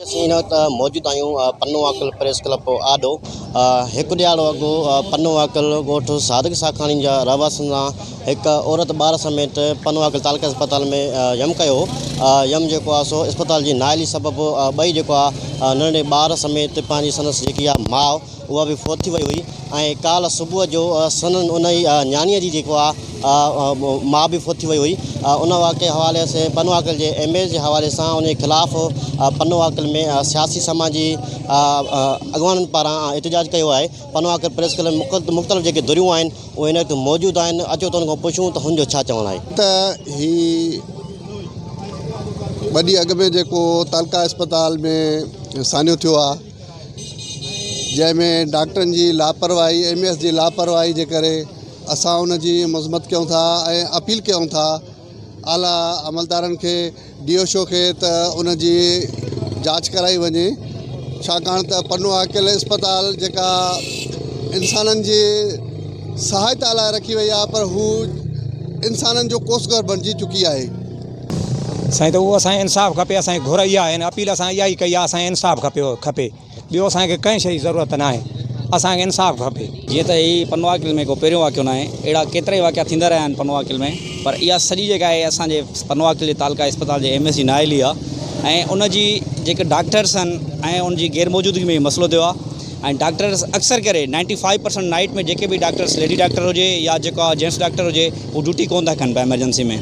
اسين هن وقت موجود آهيون پنو واڪل پريس ڪلب آڏو هڪ ڏيهاڙو اڳو پنو واڪل ڳوٺ صادق ساکاڻي جا رهواسين سان هڪ عورت ٻار سميت پنو واڪل تعلقه اسپتال ۾ يم ڪيو هو يم جيڪو آهي سو اسپتال جي نااهلي سبب ٻئي جيڪو آهي ننڍڙي ٻار سميت پنهنجي سندس جيڪي آهي ماء اها به فوت ٿي وئي هئي ۽ ڪالهه صبح جو سندن ان ئي نياڻيء جي جيڪو آهي ماء به فوت ٿي وئي هئي. ان واقعي حوالي اسين پنو عاقل جي ايم اي جي حوالي سان ان جي خلاف پنو عاقل ۾ سياسي سماجي اڳواڻن پاران احتجاج ڪيو آهي. پنو عاقل پريس ڪلب ۾ مختلف جيڪي ڌريون آهن اهي هن وقت موجود آهن اچو ته ان کان پڇون ته هن جو ڇا چوڻ آهي. ته هي ٻه ڏينهن اڳ ۾ جيڪو تعلقه اسپتال ۾ سانحو ٿيو آهي. جنهن ۾ ڊاڪٽرن جي لاپرواهي ايم اي ايس جي لاپرواهي جي ڪري اسان ان جي مذمت ڪيون ٿا ۽ اپيل ڪيون ٿا اعليٰ عملدارن کي ڊي او شو کي ته ان جي جاچ ڪرائي وڃي ڇاڪاڻ ته پنو عاقل اسپتال جيڪا انسانن جي سهائتا لاء رکي وئي آهي پر هو انسانن جو ڪوس گهر بڻجي چڪي آهي سائين ته اهو اسان کي انصاف کپي اسان جي گهر اها آهي هن اپيل اسان اها ئي ڪئي آهي اسان کي انصاف کپي کپي ٻيو اسان کي ڪنهن شي جي ضرورت نه آهي اسان کي انصاف کپي. جيئن ته هي پنواڪل ۾ ڪو پهريون واقعو ناهي اهڙا ڪيترائي واقعا ٿيندا رهيا آهن پنواڪل ۾ پر اها سڄي جيڪا آهي اسان جي پنواڪل جي تعلقه اسپتال جي ايم ايس جي نااهلي آهي ۽ ان جي جيڪي ڊاڪٽرس آهن ۽ ان جي غير موجودگي ۾ هي مسئلو ٿيو آهي ۽ ڊاڪٽرس اڪثر ڪري نائنٽي فائيو پرسنٽ نائٽ ۾ جيڪي به ڊاڪٽرس ليڊي ڊاڪٽر هجي يا جيڪا جينٽس ڊاڪٽر هجي هو ڊيوٽي ڪونه ٿا ڪن پيا ايمرجنسي ۾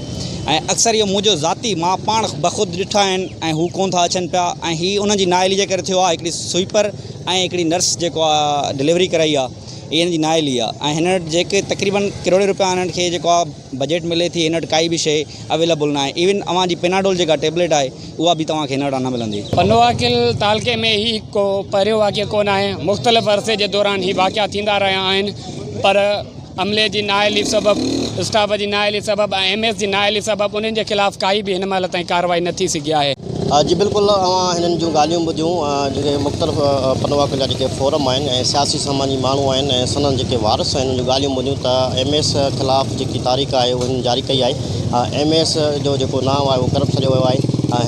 ۽ اڪثر اهو منهنجو ذاتي مان پاڻ بخود ڏٺا آهن ۽ هو ڪونه ٿا اچن پيا ۽ هي انهن جي نااهلي جي ڪري ٿيو آهي هڪڙي سوئيپر ۽ هڪڙي نرس جيڪو آهي ڊليوري ڪرائي آهي هي هن جي نااهلي آهي ۽ هن وٽ جيڪي تقريبن ڪروڙين روپيا هنن کي جيڪو آهي بجيٽ ملي ٿي هن وٽ ڪائي به شئي اويليبل نه آهي ايون اوهان جي پيناڊول جيڪا ٽيبليٽ آهي اها به توهان کي هن وٽان نه ملندي. پنواڪل تعلقي ۾ هي هڪ ڪو پهريون واقعو ڪو نه آهي مختلف عرصي جي دوران هي واقعا ٿيندا رهيا آهن پر عملي جي نااهلي سبب اسٽاف جي نااهلي سبب ۽ ايم ايس جي نااهلي سبب انهن جي خلاف ڪائي به هن مهل تائين ڪارروائي نه ٿي سگهي آهي. جي بلڪل اوهان هنن جون ڳالهيون ٻڌيون جيڪي مختلف پنواڪن جا جيڪي فورم آهن ۽ سياسي سماجي ماڻهو آهن ۽ سندن جيڪي وارث آهن انهن جون ڳالهيون ٻڌيون ته ايم ايس خلاف جيڪي تاريخ آهي اهو هنن جاري ڪئي آهي ايم ايس جو جيڪو نانء آهي اهو ڪرپٽ سڏيو ويو آهي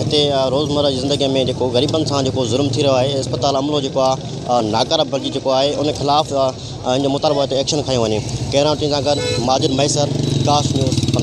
هتي روزمره جي زندگي ۾ جيڪو غريبن سان جيڪو ظلم ٿي رهيو آهي اسپتال عملو جيڪو آهي ناڪاره بڻجي چڪو آهي ان خلاف ان جو مطالبو آهي ته ايڪشن کنيو وڃي ڪيمرا مين سان گڏ ماجد مهيسر ڪاسٽ نيوز